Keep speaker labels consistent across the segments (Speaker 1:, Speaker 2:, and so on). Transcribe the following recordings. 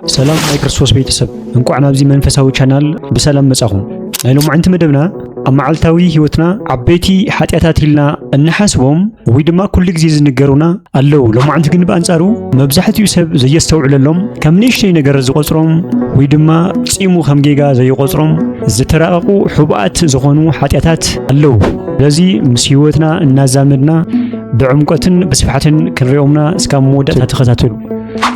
Speaker 1: ሰላም ናይ ክርስቶስ ቤተሰብ እንቋዕ ናብዚ መንፈሳዊ ቻናል ብሰላም መጻኹም። ናይ ሎማዕንቲ መደብና ኣብ መዓልታዊ ህይወትና ዓበይቲ ሓጢኣታት ኢልና እንሓስቦም ወይ ድማ ኩሉ ግዜ ዝንገሩና ኣለዉ። ሎማዕንቲ ግን ብኣንጻሩ መብዛሕትኡ ሰብ ዘየስተውዕለሎም ከም ንእሽተይ ነገር ዝቆጽሮም ወይ ድማ ጺሙ ከም ጌጋ ዘይቆጽሮም ዝተራቐቑ ሕቡኣት ዝኾኑ ሓጢኣታት ኣለዉ። ስለዚ ምስ ህይወትና እናዛመድና ብዕምቆትን ብስፍሓትን ክንሪኦምና እስካብ መወዳእታ ተኸታተሉ።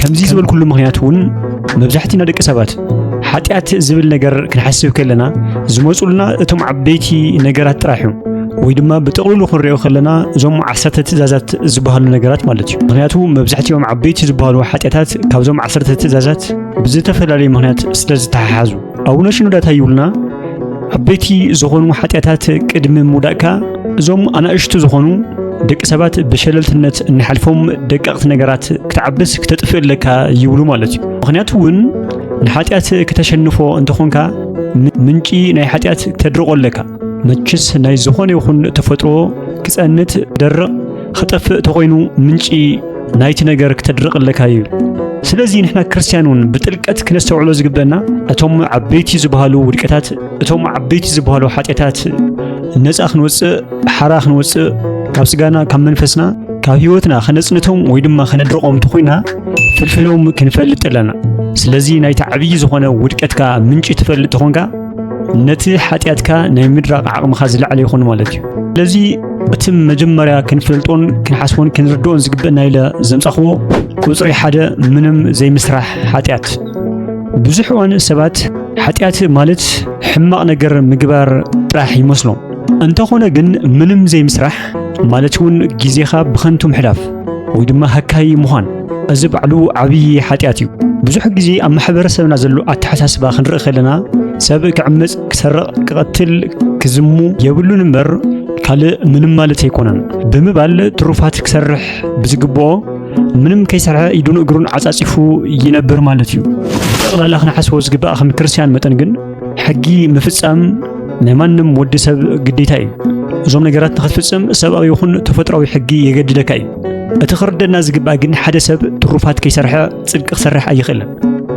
Speaker 1: ከምዚ ዝበልኩሉ ምኽንያት እውን መብዛሕትና ደቂ ሰባት ሓጢኣት ዝብል ነገር ክንሓስብ ከለና ዝመፁልና እቶም ዓበይቲ ነገራት ጥራሕ እዮም ወይ ድማ ብጥቕልሉ ክንሪኦ ከለና እዞም ዓሰርተ ትእዛዛት ዝበሃሉ ነገራት ማለት እዩ ምክንያቱ መብዛሕትኦም ዓበይቲ ዝበሃሉ ሓጢኣታት ካብዞም ዓሰርተ ትእዛዛት ብዝተፈላለዩ ምክንያት ስለ ዝተሓሓዙ ኣቡነ ሽኖዳ እንታይ ይብሉና? ዓበይቲ ዝኾኑ ሓጢኣታት ቅድሚ ምውዳእካ እዞም ኣናእሽቱ ዝኾኑ ደቂ ሰባት ብሸለልትነት እንሓልፎም ደቀቕቲ ነገራት ክትዓብስ ክተጥፍእ ኣለካ ይብሉ ማለት እዩ። ምክንያቱ እውን ንሓጢኣት ክተሸንፎ እንተኾንካ ምንጪ ናይ ሓጢኣት ክተድርቆ ኣለካ። መችስ ናይ ዝኾነ ይኹን ተፈጥሮ ክጸንት ደርቕ ክጠፍእ ተኾይኑ ምንጪ ናይቲ ነገር ክተድርቕ ኣለካ እዩ። ስለዚ ንሕና ክርስትያን እውን ብጥልቀት ክነስተውዕሎ ዝግበና እቶም ዓበይቲ ዝበሃሉ ውድቀታት እቶም ዓበይቲ ዝበሃሉ ሓጢኣታት ነፃ ክንወፅእ ሓራ ክንወፅእ ካብ ስጋና ካብ መንፈስና ካብ ህይወትና ከነፅንቶም ወይ ድማ ከነድርቆም እንተኮይና ፍልፍሎም ክንፈልጥ ኣለና። ስለዚ ናይቲ ዓብዪ ዝኾነ ውድቀትካ ምንጪ ትፈልጥ ተኾንካ ነቲ ሓጢኣትካ ናይ ምድራቕ ዓቕምኻ ዝለዓለ ይኾኑ ማለት እዩ ስለዚ እቲ መጀመርያ ክንፈልጦን ክንሓስቦን ክንርድኦን ዝግብእና ኢለ ዘምጻኽዎ ቁፅሪ ሓደ ምንም ዘይምስራሕ ሓጢኣት ብዙሕ እዋን ሰባት ሓጢኣት ማለት ሕማቕ ነገር ምግባር ጥራሕ ይመስሎም እንተኾነ ግን ምንም ዘይምስራሕ ማለት እውን ግዜኻ ብኸንቱ ምሕላፍ ወይ ድማ ሃካይ ምዃን እዚ ባዕሉ ዓብዪ ሓጢኣት እዩ። ብዙሕ ግዜ ኣብ ማሕበረሰብና ዘሎ ኣተሓሳስባ ክንርኢ ከለና ሰብ ክዕምፅ፣ ክሰርቕ፣ ክቐትል፣ ክዝሙ የብሉን እምበር ካልእ ምንም ማለት ኣይኮነን ብምባል ትሩፋት ክሰርሕ ብዝግብኦ ምንም ከይሰርሐ ኢዱን እግሩን ዓፃፂፉ ይነብር ማለት እዩ። ጠቕላላ ክንሓስቦ ዝግባእ ከም ክርስቲያን መጠን ግን ሕጊ ምፍጻም ናይ ማንም ወዲ ሰብ ግዴታ እዩ። እዞም ነገራት ንኽትፍጽም ሰብኣዊ ይኹን ተፈጥሯዊ ሕጊ የገድደካ እዩ። እቲ ክርደና ዝግባእ ግን ሓደ ሰብ ትሩፋት ከይሰርሐ ጽድቂ ክሰርሕ ኣይኽእልን።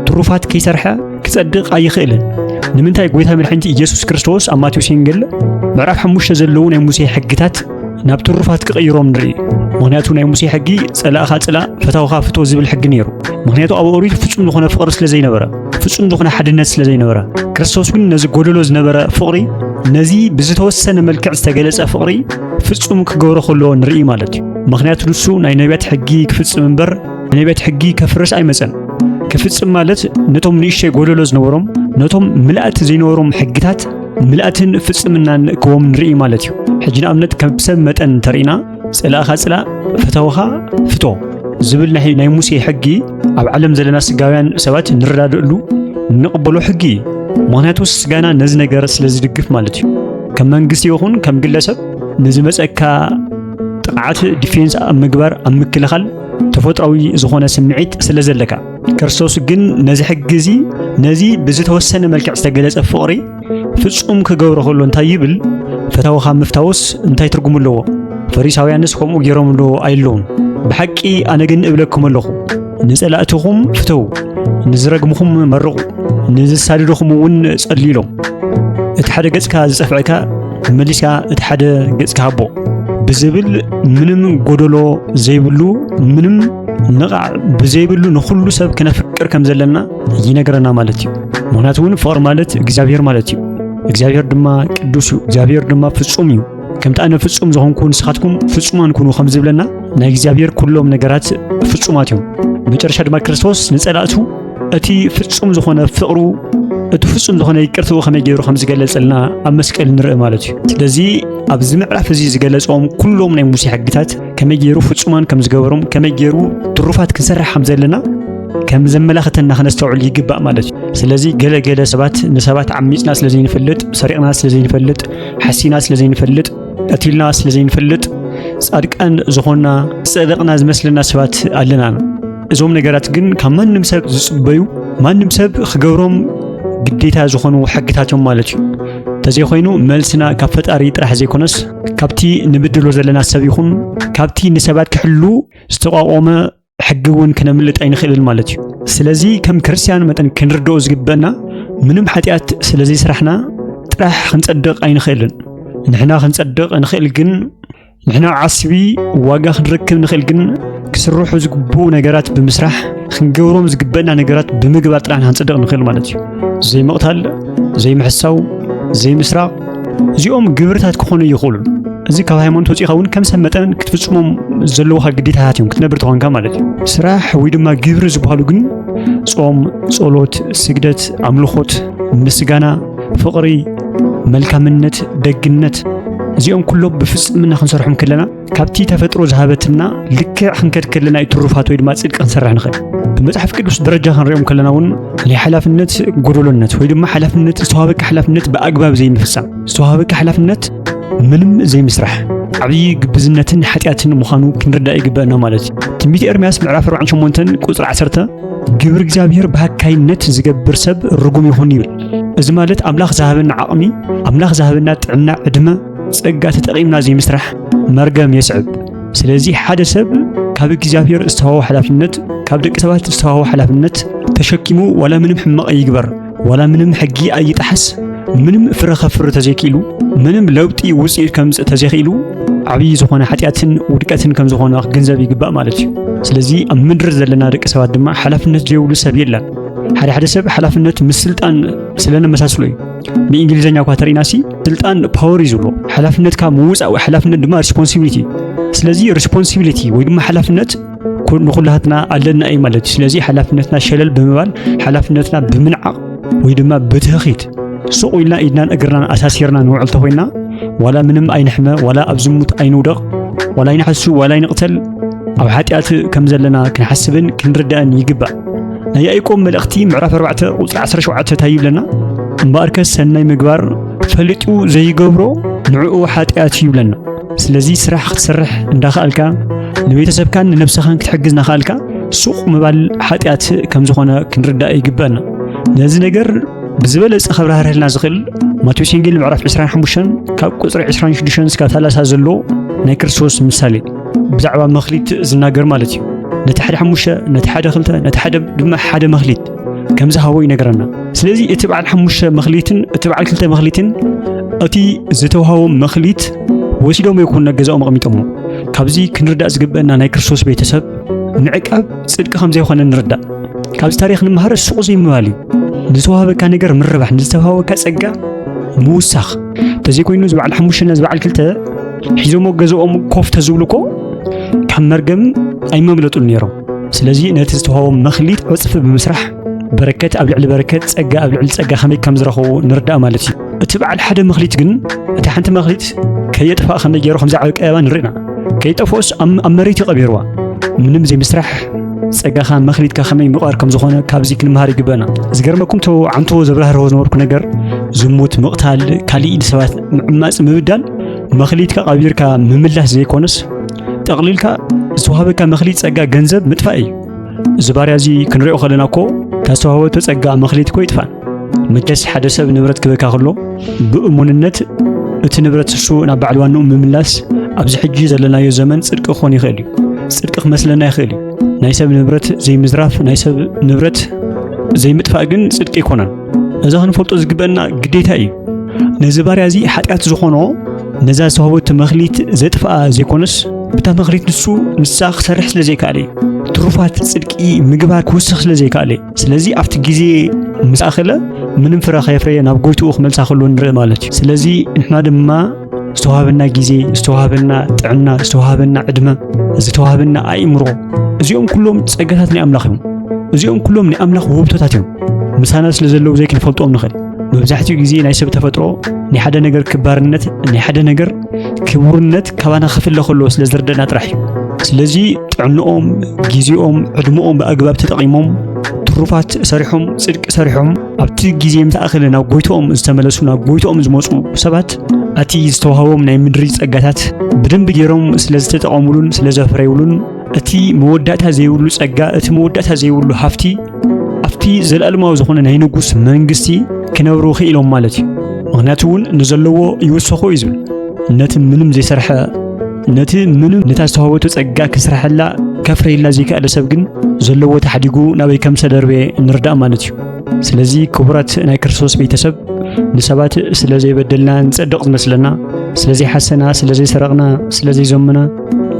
Speaker 1: ትሩፋት ከይሰርሐ ክጸድቕ ኣይኽእልን። ንምንታይ ጎይታ መድሓኒት ኢየሱስ ክርስቶስ ኣብ ማቴዎስ ወንጌል ምዕራፍ ሓሙሽተ ዘለዉ ናይ ሙሴ ሕግታት ናብ ትሩፋት ክቕይሮም ንርኢ ምክንያቱ ናይ ሙሴ ሕጊ ጸላእኻ ጽላ ፈታውኻ ፍቶ ዝብል ሕጊ ነይሩ ምክንያቱ ኣብ ኦሪት ፍጹም ዝኾነ ፍቕሪ ስለ ዘይነበረ ፍጹም ዝኾነ ሓድነት ስለ ዘይነበረ ክርስቶስ ግን ነዚ ጎደሎ ዝነበረ ፍቕሪ ነዚ ብዝተወሰነ መልክዕ ዝተገለጸ ፍቕሪ ፍጹም ክገብሮ ከለዎ ንርኢ ማለት እዩ ምክንያቱ ንሱ ናይ ነቢያት ሕጊ ክፍጽም እምበር ነቢያት ሕጊ ከፍርስ ኣይመጸን ክፍጽም ማለት ነቶም ንእሽተይ ጎደሎ ዝነበሮም ነቶም ምልእቲ ዘይነበሮም ሕግታት ምልኣትን ፍጽምናን ክዎም ንርኢ ማለት እዩ። ሕጂ ንኣብነት ከም ሰብ መጠን እንተርኢና ጽላእኻ ጽላእ ፈተውኻ ፍቶ ዝብል ናይ ናይ ሙሴ ሕጊ ኣብ ዓለም ዘለና ስጋውያን ሰባት ንረዳድእሉ ንቕበሎ ሕጊ እዩ። ምክንያቱ ስጋና ነዚ ነገር ስለ ዝድግፍ ማለት እዩ። ከም መንግስቲ ይኹን ከም ግለሰብ ንዝመጸካ ጥቕዓት ዲፌንስ ኣብ ምግባር ኣብ ምክልኻል ተፈጥሯዊ ዝኾነ ስምዒት ስለ ዘለካ ክርስቶስ ግን ነዚ ሕጊ እዚ ነዚ ብዝተወሰነ መልክዕ ዝተገለጸ ፍቕሪ ፍጹም ክገብሮ ከሎ እንታይ ይብል? ፈታውኻ ምፍታውስ እንታይ ትርጉም ኣለዎ? ፈሪሳውያንስ ከምኡ ገይሮም ዶ ኣይለውን? ብሓቂ ኣነ ግን እብለኩም ኣለኹ ንጸላእትኹም ፍተው፣ ንዝረግምኹም መርቑ፣ ንዝሳድድኹም እውን ጸልዩሎም። እቲ ሓደ ገጽካ ዝጸፍዐካ መሊስካ እቲ ሓደ ገጽካ ሃቦ ብዝብል ምንም ጎደሎ ዘይብሉ ምንም ንቓዕ ብዘይብሉ ንኹሉ ሰብ ክነፍቅር ከም ዘለና ይነግረና ማለት እዩ። ምክንያቱ እውን ፍቕሪ ማለት እግዚኣብሔር ማለት እዩ። እግዚኣብሔር ድማ ቅዱስ እዩ። እግዚኣብሔር ድማ ፍጹም እዩ። ከምቲ ኣነ ፍጹም ዝኾንኩ ንስኻትኩም ፍጹማን ኩኑ ከም ዝብለና ናይ እግዚኣብሔር ኩሎም ነገራት ፍጹማት እዮም። መጨረሻ ድማ ክርስቶስ ንጸላእቱ እቲ ፍጹም ዝኾነ ፍቕሩ እቲ ፍጹም ዝኾነ ይቅርትኡ ከመይ ገይሩ ከም ዝገለጸልና ኣብ መስቀል ንርኢ ማለት እዩ ስለዚ ኣብዚ ምዕራፍ እዚ ዝገለጾም ኩሎም ናይ ሙሴ ሕግታት ከመይ ገይሩ ፍጹማን ከም ዝገበሮም ከመይ ገይሩ ትሩፋት ክንሰርሕ ከም ዘለና ከም ዘመላኽተና ክነስተውዕል ይግባእ ማለት እዩ ስለዚ ገለ ገለ ሰባት ንሰባት ዓሚፅና ስለ ዘይንፈልጥ ሰሪቕና ስለ ዘይንፈልጥ ሓሲና ስለ ዘይንፈልጥ ቀቲልና ስለ ዘይንፈልጥ ጻድቃን ዝኾንና ጸደቕና ዝመስለና ሰባት ኣለና እዞም ነገራት ግን ካብ ማንም ሰብ ዝጽበዩ ማንም ሰብ ክገብሮም ግዴታ ዝኾኑ ሕግታት እዮም ማለት እዩ እንተዘይኮይኑ መልስና ካብ ፈጣሪ ጥራሕ ዘይኮነስ ካብቲ ንብድሎ ዘለና ሰብ ይኹን ካብቲ ንሰባት ክሕሉ ዝተቋቖመ ሕጊ እውን ክነምልጥ ኣይንኽእልን ማለት እዩ ስለዚ ከም ክርስትያን መጠን ክንርድኦ ዝግበአና ምንም ሓጢኣት ስለዘይስራሕና ጥራሕ ክንጸድቕ ኣይንኽእልን ንሕና ክንጸድቕ እንኽእል ግን ንሕና ዓስቢ ዋጋ ክንረክብ ንኽእል ግን ክስርሑ ዝግብኡ ነገራት ብምስራሕ ክንገብሮም ዝግበእና ነገራት ብምግባር ጥራሕ ንክንፅድቕ ንኽእል ማለት እዩ ዘይምቕታል ዘይምሕሳው ዘይምስራቕ እዚኦም ግብርታት ክኾኑ ይኽእሉ እዚ ካብ ሃይማኖት ወፂእኻ እውን ከም ሰብ መጠን ክትፍፅሞም ዘለዎካ ግዴታታት እዮም ክትነብር ተኾንካ ማለት እዩ ስራሕ ወይ ድማ ግብሪ ዝበሃሉ ግን ጾም ጸሎት ስግደት ኣምልኾት ምስጋና ፍቕሪ፣ መልካምነት፣ ደግነት እዚኦም ኩሎም ብፍጽምና ክንሰርሖም ከለና ካብቲ ተፈጥሮ ዝሃበትና ልክዕ ክንከድ ከለና እዩ ትሩፋት ወይ ድማ ጽድቂ ክንሰርሕ ንኽእል። ብመጽሓፍ ቅዱስ ደረጃ ክንሪኦም ከለና እውን ናይ ሓላፍነት ጎደሎነት ወይ ድማ ሓላፍነት ዝተዋሃበካ ሓላፍነት ብኣግባብ ዘይምፍጻም፣ ዝተዋሃበካ ሓላፍነት ምንም ዘይምስራሕ ዓብዪ ግብዝነትን ሓጢኣትን ምዃኑ ክንርዳእ ይግበአና ማለት እዩ። ትንቢት ኤርምያስ ምዕራፍ 48 ቁጽሪ 10 ግብሪ እግዚኣብሔር ብሃካይነት ዝገብር ሰብ ርጉም ይኹን ይብል። እዚ ማለት ኣምላኽ ዝሃበና ዓቕሚ፣ ኣምላኽ ዝሃበና ጥዕና፣ ዕድመ፣ ጸጋ ተጠቒምና ዘይምስራሕ መርገም የስዕብ። ስለዚ ሓደ ሰብ ካብ እግዚኣብሔር ዝተዋሃቦ ሓላፍነት፣ ካብ ደቂ ሰባት ዝተዋሃቦ ሓላፍነት ተሸኪሙ ዋላ ምንም ሕማቕ ይግበር፣ ዋላ ምንም ሕጊ ኣይጣሓስ፣ ምንም ፍረ ከፍሪ ተዘይክኢሉ፣ ምንም ለውጢ ውጽኢት ከምጽእ ተዘይክኢሉ ዓብዪ ዝኾነ ሓጢኣትን ውድቀትን ከም ዝኾነ ክግንዘብ ይግባእ ማለት እዩ። ስለዚ ኣብ ምድሪ ዘለና ደቂ ሰባት ድማ ሓላፍነት ዘይብሉ ሰብ የለን። ሓደ ሓደ ሰብ ሓላፍነት ምስ ስልጣን ስለ ነመሳስሎ እዩ ብእንግሊዝኛ እኳ ተርእና ሲ ስልጣን ፓወር እዩ ዝብሎ ሓላፍነትካ ምውፃእ ወይ ሓላፍነት ድማ ሪስፖንሲቢሊቲ ስለዚ ሪስፖንሲቢሊቲ ወይ ድማ ሓላፍነት ንኩላትና ኣለና እዩ ማለት እዩ ስለዚ ሓላፍነትና ሸለል ብምባል ሓላፍነትና ብምንዓቕ ወይ ድማ ብትህኺት ሱቕ ኢልና ኢድናን እግርናን ኣሳሲርና ንውዕል ተኮይና ዋላ ምንም ኣይንሕመ ዋላ ኣብ ዝሙት ኣይንውደቕ ዋላ ኣይንሓሱ ዋላ ኣይንቕተል ኣብ ሓጢኣት ከም ዘለና ክንሓስብን ክንርዳእን ይግባእ ናይ ያዕቆብ መልእኽቲ ምዕራፍ 4 ቁጽሪ 17 እንታይ ይብለና? እምበኣርከ ሰናይ ምግባር ፈሊጡ ዘይገብሮ ንዕኡ ሓጢኣት እዩ ይብለና። ስለዚ ስራሕ ክትሰርሕ እንዳኸኣልካ ንቤተሰብካን ንነብስኻን ክትሕግዝ እናኸኣልካ ሱቕ ምባል ሓጢኣት ከም ዝኾነ ክንርዳእ ይግበአና። ነዚ ነገር ብዝበለጸ ከብራህርህልና ዝኽእል ማቴዎስ ወንጌል ምዕራፍ 25 ካብ ቁጽሪ 26 እስካብ 30 ዘሎ ናይ ክርስቶስ ምሳሌ ብዛዕባ መኽሊት ዝናገር ማለት እዩ ነቲ ሓደ ሓሙሽተ ነቲ ሓደ ክልተ ነቲ ሓደ ድማ ሓደ መኽሊት ከም ዝሃቦ ይነገረና ስለዚ እቲ በዓል ሓሙሽተ መኽሊትን እቲ በዓል ክልተ መኽሊትን እቲ ዝተውሃቦ መኽሊት ወሲዶም ይኹን ነገዛኦም ኣቕሚጦሞ ካብዚ ክንርዳእ ዝግበአና ናይ ክርስቶስ ቤተሰብ ምዕቃብ ጽድቂ ከም ዘይኾነ ንርዳእ ካብዚ ታሪኽ ንምሃር ሱቕ ዘይምባል እዩ ንዝተዋሃበካ ነገር ምርባሕ ንዝተዋሃበካ ጸጋ ምውሳኽ ተዘይኮይኑ እዚ በዓል ሓሙሽተ ነዚ በዓል ክልተ ሒዞሞ ገዝኦም ኮፍ ተዝብሉ እኮ ካብ መርገም ኣይመምለጡን ነይሮም። ስለዚ ነቲ ዝተዋህቦም መኽሊት ዕፅፊ ብምስራሕ በረከት ኣብ ልዕሊ በረከት ጸጋ ኣብ ልዕሊ ጸጋ ከመይ ከም ዝረኸቡ ንርዳእ ማለት እዩ። እቲ በዓል ሓደ መኽሊት ግን እታ ሓንቲ መኽሊት ከየጥፋእ ከመይ ገይሩ ከምዚ ዓቢ ቀየባ ንርኢና ከይጠፍኦስ ኣብ መሬት ይቐቢርዋ ምንም ዘይምስራሕ ጸጋኻ መኽሊትካ ከመይ ምቕር ከም ዝኾነ ካብዚ ክንምሃር ይግበና ዝገርመኩም ቶ ዓንተዎ ዘብራህርሆ ዝነበርኩ ነገር ዝሙት ምቕታል ካሊእ ንሰባት ምዕማፅ ምብዳል መኽሊትካ ቐቢርካ ምምላስ ዘይኮነስ ጠቕሊልካ ዝተዋህበካ መኽሊት ጸጋ ገንዘብ ምጥፋእ እዩ እዚ ባርያ እዚ ክንሪኦ ከለና እኮ ታስተዋህበቶ ጸጋ መኽሊት እኮ ይጥፋእ መቸስ ሓደ ሰብ ንብረት ክበካ ከሎ ብእሙንነት እቲ ንብረት ንሱ ናብ ባዕል ዋንኡ ምምላስ ኣብዚ ሕጂ ዘለናዮ ዘመን ጽድቂ ክኾን ይኽእል እዩ። ጽድቂ ክመስለና ይኽእል እዩ። ናይ ሰብ ንብረት ዘይምዝራፍ፣ ናይ ሰብ ንብረት ዘይምጥፋእ ግን ጽድቂ ኣይኮነን። እዚ ክንፈልጦ ዝግበአና ግዴታ እዩ። ነዚ ባርያ እዚ ሓጢኣት ዝኾኖ ነዛ ዝተዋህበቱ መኽሊት ዘጥፍኣ ዘይኮነስ ብታ መኽሊት ንሱ ንሳ ክሰርሕ ስለ ዘይከኣለ እዩ። ትሩፋት ጽድቂ ምግባር ክውስኽ ስለ ዘይከኣለ እዩ። ስለዚ ኣብቲ ግዜ ምስ ኣኸለ ምንም ፍረ ከየፍረየ ናብ ጎይትኡ ክመልሳ ከሎ ንርኢ ማለት እዩ ስለዚ ንሕና ድማ ዝተዋሃበና ግዜ ዝተዋሃበና ጥዕና ዝተዋሃበና ዕድመ ዝተዋሃበና ኣእምሮ እዚኦም ኩሎም ጸጋታት ናይ ኣምላኽ እዮም እዚኦም ኩሎም ናይ ኣምላኽ ውህብቶታት እዮም ምሳና ስለ ዘለዉ ዘይክንፈልጦም ንኽእል መብዛሕትኡ ግዜ ናይ ሰብ ተፈጥሮ ናይ ሓደ ነገር ክባርነት ናይ ሓደ ነገር ክቡርነት ካባና ክፍለ ከለዎ ስለ ዝርደና ጥራሕ እዩ። ስለዚ ጥዕንኦም፣ ግዜኦም፣ ዕድመኦም ብኣግባብ ተጠቒሞም ትሩፋት ሰሪሖም ጽድቂ ሰሪሖም ኣብቲ ግዜ ምተኣኸለ ናብ ጎይቶኦም ዝተመለሱ ናብ ጎይቶኦም ዝመፁ ሰባት እቲ ዝተዋህቦም ናይ ምድሪ ጸጋታት ብደንቢ ገይሮም ስለ ዝተጠቐሙሉን ስለ ዘፍረዩሉን እቲ መወዳእታ ዘይብሉ ጸጋ፣ እቲ መወዳእታ ዘይብሉ ሃፍቲ ኣብቲ ዘለኣለማዊ ዝኾነ ናይ ንጉስ መንግስቲ ክነብሩ ክኢሎም ማለት እዩ ምክንያቱ እውን ንዘለዎ ይውሰኾ እዩ ዝብል ነቲ ምንም ዘይሰርሐ ነቲ ምንም ነታ ዝተዋህበቶ ጸጋ ክስርሐላ ከፍረየላ ዘይከኣለ ሰብ ግን ዘለዎ ተሓዲጉ ናበይ ከም ዝተደርበ ንርዳእ ማለት እዩ ስለዚ ክቡራት ናይ ክርስቶስ ቤተሰብ ንሰባት ስለ ዘይበደልና ንጸድቕ ዝመስለና ስለ ዘይሓሰና ስለ ዘይሰረቕና ስለ ዘይዘምና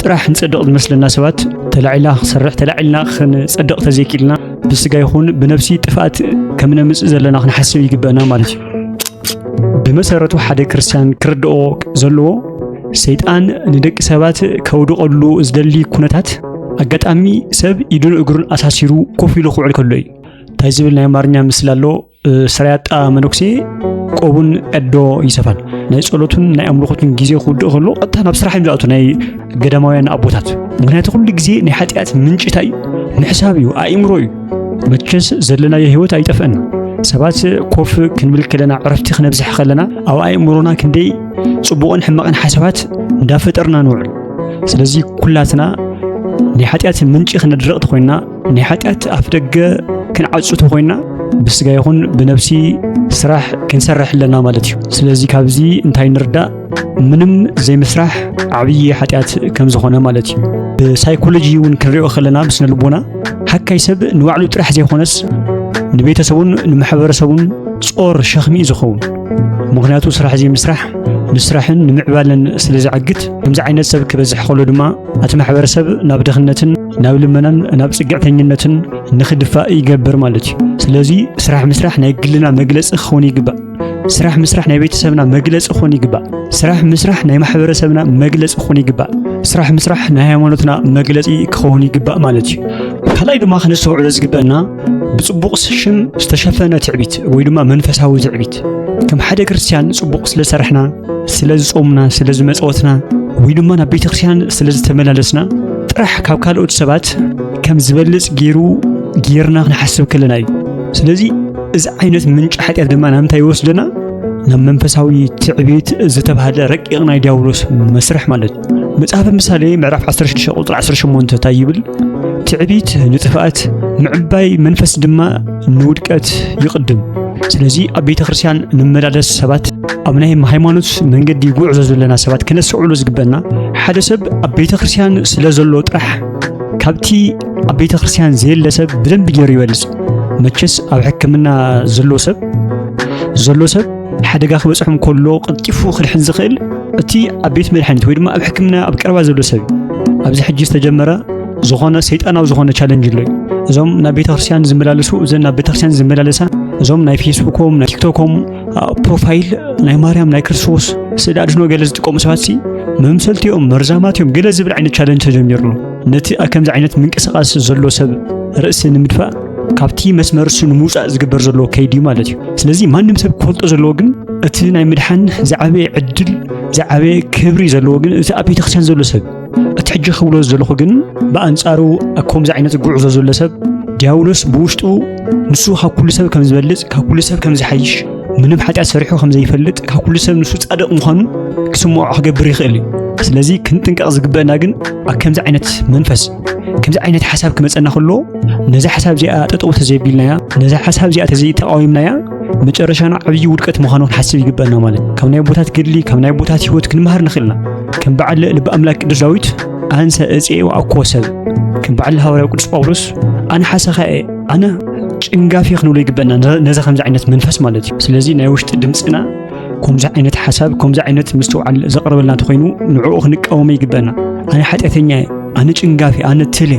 Speaker 1: ጥራሕ ንጸድቕ ዝመስለና ሰባት ተላዒልና ክንሰርሕ ተላዒልና ክንጸድቕ ተዘይክኢልና ብስጋ ይኹን ብነብሲ ጥፍኣት ከም ነምጽእ ዘለና ክንሓስብ ይግበአና ማለት እዩ ብመሰረቱ ሓደ ክርስትያን ክርድኦ ዘለዎ ሰይጣን ንደቂ ሰባት ከውድቐሉ ዝደሊ ኩነታት ኣጋጣሚ ሰብ ኢዱን እግሩን ኣሳሲሩ ኮፍ ኢሉ ክውዕል ከሎ እዩ እንታይ ዝብል ናይ ኣማርኛ ምስላ ኣሎ ስራያጣ መነኩሴ ቆቡን ዕዶ ይሰፋል ናይ ጸሎቱን ናይ ኣምልኾቱን ግዜ ክውድእ ከሎ ቀጥታ ናብ ስራሕ እዮም ዝኣቱ ናይ ገዳማውያን ኣቦታት ምክንያቱ ኩሉ ግዜ ናይ ሓጢኣት ምንጭ እንታይ እዩ ምሕሳብ እዩ ኣእምሮ እዩ መቸስ ዘለናዮ ህይወት ኣይጠፍአን ሰባት ኮፍ ክንብል ከለና ዕረፍቲ ክነብዝሕ ከለና ኣብ ኣእምሮና ክንደይ ጽቡቕን ሕማቕን ሓሳባት እንዳፈጠርና ንውዕል ስለዚ ኩላትና ናይ ሓጢኣት ምንጪ ክነድረቕ ተኾይንና ናይ ሓጢኣት ኣፍ ደገ ክንዓጹ ተኾይና ብስጋ ይኹን ብነብሲ ስራሕ ክንሰርሕ ኣለና ማለት እዩ ስለዚ ካብዚ እንታይ ንርዳእ ምንም ዘይምስራሕ ዓብዪ ሓጢኣት ከም ዝኾነ ማለት እዩ ብሳይኮሎጂ እውን ክንሪኦ ከለና ብስነ ልቦና ሓካይ ሰብ ንባዕሉ ጥራሕ ዘይኮነስ ንቤተሰቡን ንማሕበረሰቡን ጾር ሸኽሚ እዩ ዝኸውን ምክንያቱ ስራሕ ዘይምስራሕ ንስራሕን ንምዕባለን ስለ ዝዕግት ከምዚ ዓይነት ሰብ ክበዝሕ ከሎ ድማ እቲ ማሕበረሰብ ናብ ድኽነትን ናብ ልመናን ናብ ጽግዕተኝነትን ንኽድፋእ ይገብር ማለት እዩ። ስለዚ ስራሕ ምስራሕ ናይ ግልና መግለጺ ክኸውን ይግባእ። ስራሕ ምስራሕ ናይ ቤተሰብና መግለጺ ክኾን ይግባእ። ስራሕ ምስራሕ ናይ ማሕበረሰብና መግለጺ ክኾን ይግባእ። ስራሕ ምስራሕ ናይ ሃይማኖትና መግለጺ ክኸውን ይግባእ ማለት እዩ። ካልኣይ ድማ ከነስተውዕሎ ዝግበአና ብጽቡቕ ሽም ዝተሸፈነ ትዕቢት ወይ ድማ መንፈሳዊ ትዕቢት ከም ሓደ ክርስትያን ጽቡቕ ስለ ሰርሕና ስለ ዝጾምና ስለ ዝመጸወትና ወይ ድማ ናብ ቤተ ክርስትያን ስለ ዝተመላለስና ጥራሕ ካብ ካልኦት ሰባት ከም ዝበልጽ ገይሩ ጌርና ክንሓስብ ከለና እዩ ስለዚ እዚ ዓይነት ምንጪ ሓጢኣት ድማ ናብ እንታይ ይወስደና ናብ መንፈሳዊ ትዕቢት ዝተባህለ ረቂቕ ናይ ዲያብሎስ መስርሕ ማለት እዩ መጽሓፈ ምሳሌ ምዕራፍ 16 ቁጽሪ 18 እንታይ ይብል? ትዕቢት ንጥፍኣት ምዕባይ መንፈስ ድማ ንውድቀት ይቕድም። ስለዚ ኣብ ቤተ ክርስቲያን ንመላለስ ሰባት ኣብ ናይ ሃይማኖት መንገዲ ጉዕዞ ዘለና ሰባት ክነስዕሉ ዝግበና ሓደ ሰብ ኣብ ቤተ ክርስቲያን ስለ ዘሎ ጥራሕ ካብቲ ኣብ ቤተ ክርስቲያን ዘየለ ሰብ ብደንብ ገይሩ ይበልጽ። መቸስ ኣብ ሕክምና ዘሎ ሰብ ዘሎ ሰብ ሓደጋ ክበጽሖም ከሎ ቀልጢፉ ክድሕን ዝኽእል እቲ ኣብ ቤት መድሓኒት ወይ ድማ ኣብ ሕክምና ኣብ ቀረባ ዘሎ ሰብ እዩ ኣብዚ ሕጂ ዝተጀመረ ዝኾነ ሰይጣናዊ ዝኾነ ቻለንጅ ኣሎ እዩ እዞም ናብ ቤተክርስትያን ዝመላለሱ እዘን ናብ ቤተክርስትያን ዝመላለሳ እዞም ናይ ፌስቡኮም ናይ ቲክቶኮም ፕሮፋይል ናይ ማርያም ናይ ክርስቶስ ስእሊ ኣድህኖ ገለ ዝጥቀሙ ሰባት ሲ መምሰልቲ እዮም መርዛማት እዮም ገለ ዝብል ዓይነት ቻለንጅ ተጀሚሩ ኣሎ ነቲ ከምዚ ዓይነት ምንቅስቓስ ዘሎ ሰብ ርእሲ ንምድፋእ ካብቲ መስመር እሱ ንምውፃእ ዝግበር ዘሎ ከይዲ እዩ ማለት እዩ ስለዚ ማንም ሰብ ክፈልጦ ዘለዎ ግን እቲ ናይ ምድሓን ዝዓበየ ዕድል ዝዓበየ ክብሪ ዘለዎ ግን እቲ ኣብ ቤተክርስትያን ዘሎ ሰብ እቲ ሕጂ ክብሎ ዘለኹ ግን ብኣንጻሩ ከምዚ ዓይነት ጉዕዞ ዘሎ ሰብ ዲያብሎስ ብውሽጡ ንሱ ካብ ኩሉ ሰብ ከም ዝበልፅ ካብ ኩሉ ሰብ ከም ዝሓይሽ ምንም ሓጢኣት ሰሪሑ ከም ዘይፈልጥ ካብ ኩሉ ሰብ ንሱ ጻድቕ ምዃኑ ክስምዖ ክገብር ይኽእል እዩ ስለዚ ክንጥንቀቕ ዝግበአና ግን ኣብ ከምዚ ዓይነት መንፈስ ከምዚ ዓይነት ሓሳብ ክመፀና ከሎ ነዛ ሓሳብ እዚኣ ጠጠው ተዘይቢልናያ ነዛ ሓሳብ እዚኣ ተዘይተቃዊምናያ መጨረሻና ዓብዪ ውድቀት ምዃኑ ክንሓስብ ይግበአና ማለት ካብ ናይ ቦታት ገድሊ ካብ ናይ ቦታት ህይወት ክንመሃር ንኽእልና ከም በዓል ልቢ ኣምላክ ቅዱስ ዳዊት ኣንሰ እፅኤ ወኣኮ ሰብ ከም በዓል ሃዋርያው ቅዱስ ጳውሎስ ኣነ ሓሰኻ እየ ኣነ ጭንጋፊ ክንብሎ ይግበአና ነዚ ከምዚ ዓይነት መንፈስ ማለት እዩ ስለዚ ናይ ውሽጢ ድምፅና ከምዚ ዓይነት ሓሳብ ከምዚ ዓይነት ምስትውዓል ዘቕርበልና እንተኾይኑ ንዕኡ ክንቃወመ ይግበአና ኣነ ሓጢኣተኛ እየ ኣነ ጭንጋፊ ኣነ ትል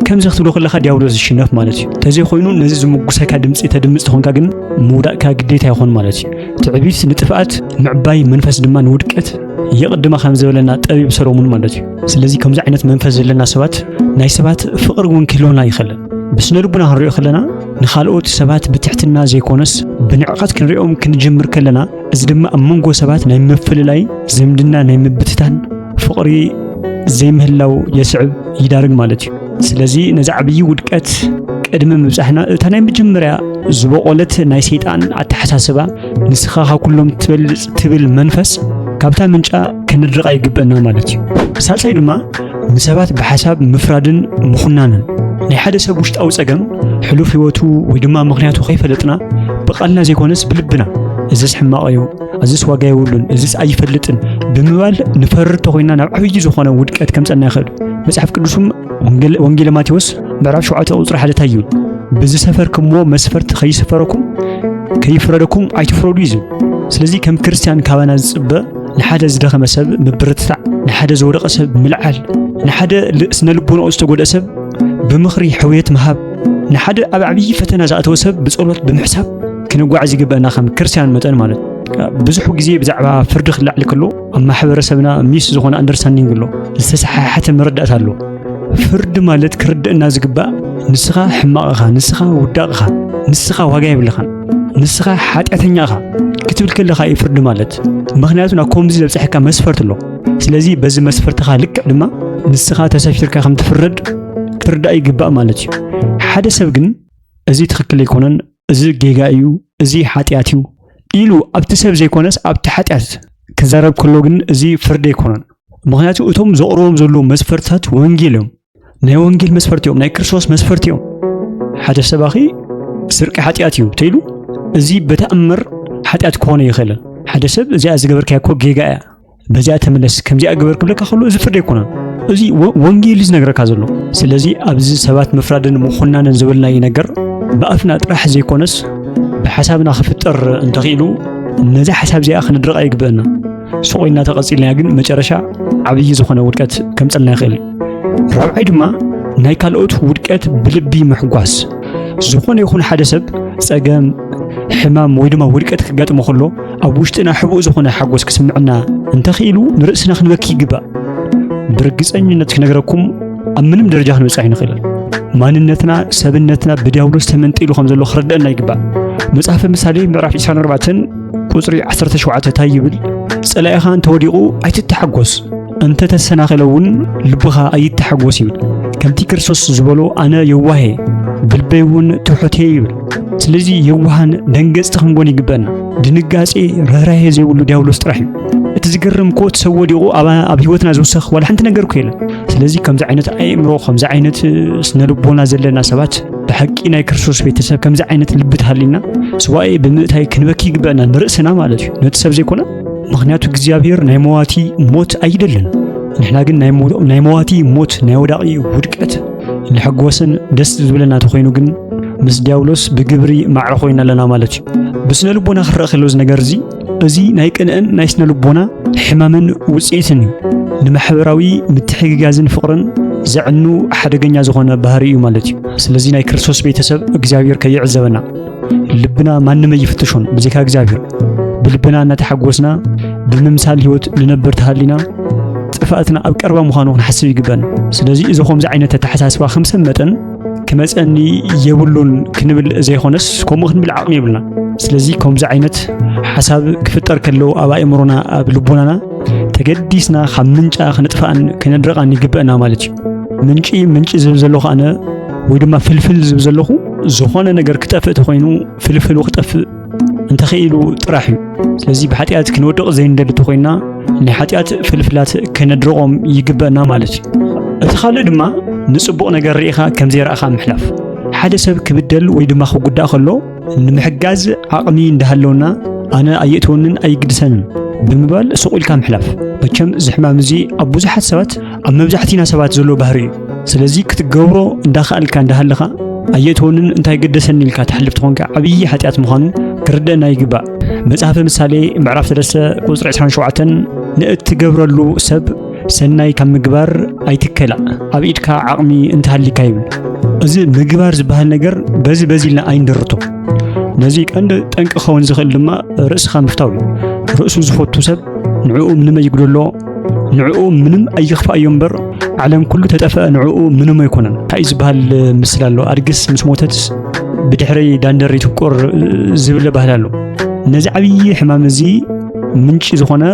Speaker 1: ከምዚ ክትብሎ ከለካ ዲያብሎስ ዝሽነፍ ማለት እዩ እንተዘይኮይኑ ነዚ ዝምጉሰካ ድምፂ ተድምፅ ተኾንካ ግን ምውዳእካ ግዴታ ይኾን ማለት እዩ ትዕቢት ንጥፍኣት ምዕባይ መንፈስ ድማ ንውድቀት የቕድማ ከም ዝበለና ጠቢብ ሰሎሙን ማለት እዩ ስለዚ ከምዚ ዓይነት መንፈስ ዘለና ሰባት ናይ ሰባት ፍቕሪ እውን ክህልወና ይኽእልን ብስነ ልቡና ክንሪኦ ከለና ንኻልኦት ሰባት ብትሕትና ዘይኮነስ ብንዕቐት ክንሪኦም ክንጅምር ከለና እዚ ድማ ኣብ መንጎ ሰባት ናይ ምፍልላይ ዝምድና ናይ ምብትታን ፍቕሪ ዘይምህላው የስዕብ ይዳርግ ማለት እዩ ስለዚ ነዚ ዓብዪ ውድቀት ቅድሚ ምብጻሕና እታ ናይ መጀመርያ ዝበቖለት ናይ ሰይጣን ኣተሓሳስባ ንስኻ ካብ ኩሎም ትበልጽ ትብል መንፈስ ካብታ ምንጫ ክንድርቓ ይግበና ማለት እዩ ሳልሳይ ድማ ንሰባት ብሓሳብ ምፍራድን ምኹናንን ናይ ሓደ ሰብ ውሽጣዊ ጸገም ሕሉፍ ህይወቱ ወይ ድማ ምኽንያቱ ከይፈለጥና ብቓልና ዘይኮነስ ብልብና እዝስ ሕማቕ እዩ፣ እዝስ ዋጋ የብሉን፣ እዝስ ኣይፈልጥን ብምባል ንፈርድ ተኾይና ናብ ዓብዪ ዝኾነ ውድቀት ከምፀና ይኽእል። መጽሓፍ ቅዱስም ወንጌለ ማቴዎስ ምዕራፍ 7 ቁጽሪ ሓደ ታዩ ብዝሰፈርክሞ መስፈርት ከይስፈረኩም ከይፍረደኩም ኣይትፍረዱ እዩ ዝብል። ስለዚ ከም ክርስቲያን ካባና ዝጽበ ንሓደ ዝደኸመ ሰብ ምብርትታዕ፣ ንሓደ ዝወደቐ ሰብ ምልዓል፣ ንሓደ ስነ ልቦናኡ ዝተጎድአ ሰብ ብምኽሪ ሕውየት ምሃብ፣ ንሓደ ኣብ ዓብዪ ፈተና ዝኣተወ ሰብ ብጸሎት ብምሕሳብ ክንጓዓዝ ይግበአና ከም ክርስቲያን መጠን ማለት ብዙሕ ግዜ ብዛዕባ ፍርዲ ክላዕል ከሎ ኣብ ማሕበረሰብና ሚስ ዝኾነ ኣንደርስታንዲንግ ኣሎ፣ ዝተሰሓሓተ መረዳእታ ኣሎ። ፍርዲ ማለት ክርድእና ዝግባእ ንስኻ ሕማቕኻ፣ ንስኻ ውዳቕኻ፣ ንስኻ ዋጋ የብልኻን ንስኻ ሓጢኣተኛ ኢኻ ክትብል ከለኻ እዩ ፍርዲ ማለት ምክንያቱ ናብ ከምዚ ዘብፅሐካ መስፈርት ኣሎ ስለዚ በዚ መስፈርትኻ ልክዕ ድማ ንስኻ ተሰፊርካ ከም ትፍረድ ክትርዳእ ይግባእ ማለት እዩ ሓደ ሰብ ግን እዚ ትኽክል ኣይኮነን እዚ ጌጋ እዩ እዚ ሓጢኣት እዩ ኢሉ ኣብቲ ሰብ ዘይኮነስ ኣብቲ ሓጢኣት ክዛረብ ከሎ ግን እዚ ፍርዲ ኣይኮነን ምክንያቱ እቶም ዘቕርቦም ዘለዉ መስፈርትታት ወንጌል እዮም ናይ ወንጌል መስፈርቲ እዮም፣ ናይ ክርስቶስ መስፈርቲ እዮም። ሓደ ሰባኺ ስርቂ ሓጢኣት እዩ ተይሉ እዚ በተኣምር ሓጢኣት ክኾነ ይኽእል ሓደ ሰብ እዚኣ ዝገበርካያ እኮ ጌጋ እያ በዚኣ ተመለስ ከምዚኣ ግበር ክብለካ ከሎ እዚ ፍርዲ ኣይኮነን እዚ ወንጌል እዩ ዝነግረካ ዘሎ ስለዚ ኣብዚ ሰባት ምፍራድን ምኹናንን ዝበልናዮ ነገር ብኣፍና ጥራሕ ዘይኮነስ ብሓሳብና ክፍጠር እንተኽኢሉ ነዚ ሓሳብ እዚኣ ክንድረቕ ኣይግበአና ሱቕ ኢልና ተቐፂልና ግን መጨረሻ ዓብዪ ዝኾነ ውድቀት ከምፀልና ይኽእል ራብዓይ ድማ ናይ ካልኦት ውድቀት ብልቢ ምሕጓስ ዝኾነ ይኹን ሓደ ሰብ ጸገም ሕማም ወይ ድማ ውድቀት ክጋጥሞ ከሎ ኣብ ውሽጥና ሕቡእ ዝኾነ ሓጎስ ክስምዕና እንተኽኢሉ ንርእስና ክንበኪ ይግባእ ብርግፀኝነት ክነግረኩም ኣብ ምንም ደረጃ ክንበፅሕ ይንኽእል ማንነትና ሰብነትና ብዲያብሎስ ተመንጢሉ ከም ዘሎ ክርደአና ይግባእ መጽሓፈ ምሳሌ ምዕራፍ 24 ቁፅሪ 17 እንታይ ይብል ጸላኢኻ እንተወዲቑ ኣይትተሓጎስ እንተ ተሰናኺለ እውን ልብኻ ኣይተሓጎስ ይብል። ከምቲ ክርስቶስ ዝበሎ ኣነ የዋሄ ብልበይ እውን ትሑት እየ ይብል። ስለዚ የዋሃን ደንገጽቲ ክንጎን ይግበን። ድንጋጼ ርህራሄ ዘይብሉ ዲያብሎስ ጥራሕ እዩ። እቲ ዝገርም እኮ እቲ ሰብ ወዲቑ ኣብ ህይወትና ዝውሰኽ ዋላ ሓንቲ ነገር እኮ የለን። ስለዚ ከምዚ ዓይነት ኣእምሮ ከምዚ ዓይነት ስነ ልቦና ዘለና ሰባት ብሓቂ ናይ ክርስቶስ ቤተሰብ ከምዚ ዓይነት ልቢ ተሃሊና ስዋኤ ብምእታይ ክንበኪ ይግበአና ንርእስና ማለት እዩ ነቲ ሰብ ዘይኮነ ምኽንያቱ እግዚኣብሔር ናይ መዋቲ ሞት ኣይደልን። ንሕና ግን ናይ መዋቲ ሞት ናይ ወዳቂ ውድቀት ንሕጎስን ደስ ዝብለና ተኾይኑ ግን ምስ ዲያብሎስ ብግብሪ ማዕረ ኮይና ኣለና ማለት እዩ። ብስነ ልቦና ክረአ ከሎ እዚ ነገር እዚ እዚ ናይ ቅንእን ናይ ስነ ልቦና ሕማምን ውፅኢትን እዩ። ንማሕበራዊ ምትሕግጋዝን ፍቕርን ዘዕኑ ሓደገኛ ዝኾነ ባህሪ እዩ ማለት እዩ። ስለዚ ናይ ክርስቶስ ቤተሰብ እግዚኣብሔር ከይዕዘበና ልብና ማንም ኣይፍትሾን ብዘይካ እግዚኣብሔር። ብልብና እናተሓጎስና ብምምሳል ህይወት ንነብር ተሃሊና ጥፍኣትና ኣብ ቀርባ ምዃኑ ክንሓስብ ይግበን። ስለዚ እዚ ከምዚ ዓይነት ኣተሓሳስባ ከም ሰብ መጠን ክመፀኒ የብሉን ክንብል ዘይኮነስ ከምኡ ክንብል ዓቕሚ የብልና። ስለዚ ከምዚ ዓይነት ሓሳብ ክፍጠር ከለዉ ኣብ ኣእምሮና ኣብ ልቦናና ተገዲስና ካብ ምንጫ ክንጥፍኣን ክንድርቓን ይግበአና ማለት እዩ። ምንጪ ምንጪ ዝብል ዘለኹ ኣነ ወይ ድማ ፍልፍል ዝብል ዘለኹ ዝኾነ ነገር ክጠፍእ ተኾይኑ ፍልፍሉ ክጠፍእ እንተኽኢሉ ጥራሕ እዩ ስለዚ ብሓጢኣት ክንወድቕ ዘይንደሊ እንተኾይና ናይ ሓጢኣት ፍልፍላት ከነድርቖም ይግበአና ማለት እዩ እቲ ካልእ ድማ ንጽቡቕ ነገር ርኢኻ ከም ዘይረእኻ ምሕላፍ ሓደ ሰብ ክብደል ወይ ድማ ክጉዳእ ከሎ ንምሕጋዝ ዓቕሚ እንዳሃለውና ኣነ ኣየእትወንን ኣይግድሰንን ብምባል ስቑ ኢልካ ምሕላፍ መቸም እዚ ሕማም እዚ ኣብ ብዙሓት ሰባት ኣብ መብዛሕቲና ሰባት ዘሎ ባህሪ እዩ ስለዚ ክትገብሮ እንዳኸኣልካ እንዳሃለኻ ኣየእትወንን እንታይ ገደሰኒ ኢልካ ትሕልፍ ትኾንካ ዓብዪ ሓጢኣት ምዃኑ ክርደአና ይግባእ መጽሓፈ ምሳሌ ምዕራፍ ሰለስተ ቁፅሪ 27 ንእትገብረሉ ሰብ ሰናይ ካብ ምግባር ኣይትከላ ኣብ ኢድካ ዓቕሚ እንተሃሊካ ይብል እዚ ምግባር ዝበሃል ነገር በዚ በዚ ኢልና ኣይንደርቶ ነዚ ቀንዲ ጠንቂ ክኸውን ዝኽእል ድማ ርእስኻ ምፍታው እዩ ርእሱ ዝፈቱ ሰብ ንዕኡ ምንም ኣይጉደሎ ንዕኡ ምንም ኣይኽፋእዮ እምበር ዓለም ኩሉ ተጠፍአ ንዕኡ ምንም ኣይኮነን እንታይ እዩ ዝበሃል ምስል ኣሎ ኣድግስ ምስ ሞተት ብድሕሪ ዳንደር ይትቆር ዝብለ ባህል ኣሎ ነዚ ዓብዪ ሕማም እዚ ምንጪ ዝኾነ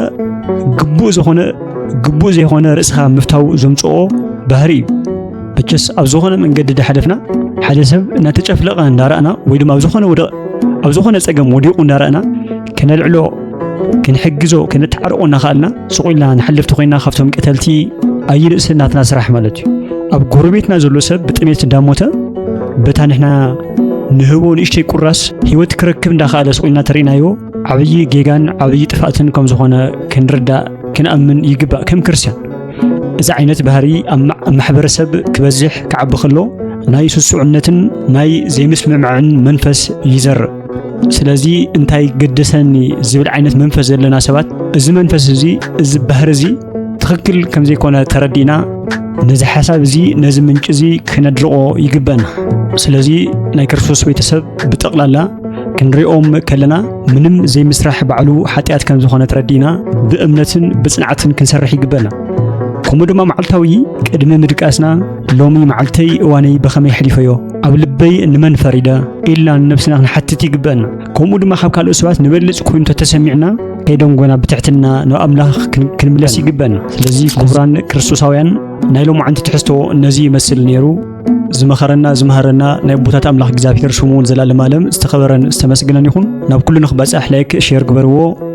Speaker 1: ግቡእ ዝኾነ ግቡእ ዘይኮነ ርእስኻ ምፍታው ዘምፅኦ ባህሪ እዩ መቸስ ኣብ ዝኾነ መንገዲ ዳሓለፍና ሓደ ሰብ እናተጨፍለቐ እንዳረእና ወይ ድማ ኣብ ዝኾነ ወደ ኣብ ዝኾነ ፀገም ወዲቑ እንዳረእና ከነልዕሎ ክንሕግዞ ከነተዓርቆ እናኸኣልና ስቕ ኢልና ንሓልፍ ተኾይና ካብቶም ቀተልቲ ኣይንእሰ ናትና ስራሕ ማለት እዩ ኣብ ጎረቤትና ዘሎ ሰብ ብጥሜት እንዳሞተ በታ ንሕና ንህቦ ንእሽተይ ቁራስ ህይወት ክረክብ እንዳኸኣለ ስቕ ኢልና ተርእናዮ ዓብዪ ጌጋን ዓብዪ ጥፍኣትን ከም ዝኾነ ክንርዳእ ክንኣምን ይግባእ ከም ክርስትያን እዚ ዓይነት ባህሪ ኣብ ማሕበረሰብ ክበዝሕ ክዓቢ ከሎ ናይ ስሱዕነትን ናይ ዘይምስምማዕን መንፈስ ይዘርእ ስለዚ እንታይ ገደሰኒ ዝብል ዓይነት መንፈስ ዘለና ሰባት እዚ መንፈስ እዚ እዚ ባህሪ እዚ ትኽክል ከም ዘይኮነ ተረዲእና ነዚ ሓሳብ እዚ ነዚ ምንጪ እዚ ክነድርቆ ይግበና ስለዚ ናይ ክርስቶስ ቤተሰብ ብጠቕላላ ክንሪኦም ከለና ምንም ዘይምስራሕ ባዕሉ ሓጢኣት ከም ዝኾነ ተረዲእና ብእምነትን ብጽንዓትን ክንሰርሕ ይግበና ከምኡ ድማ መዓልታዊ ቅድሚ ምድቃስና ሎሚ መዓልተይ እዋነይ ብኸመይ ሕሊፈዮ ኣብ ልበይ ንመን ፈሪደ ኢልና ንነብስና ክንሓትት ይግበአና ከምኡ ድማ ካብ ካልኦት ሰባት ንበልፅ ኮይኑ ተተሰሚዕና ከይደንጎና ብትሕትና ናብ ኣምላኽ ክንምለስ ይግበአና ስለዚ ክቡራን ክርስቶሳውያን ናይ ሎማዓንቲ ትሕዝቶ ነዚ ይመስል ነይሩ ዝመኸረና ዝመሃረና ናይ ቦታት ኣምላኽ እግዚኣብሔር ሽሙ እውን ዘላለም ኣለም ዝተኸበረን ዝተመስግነን ይኹን ናብ ኩሉ ንክበፃሕ ላይክ ሼር ግበርዎ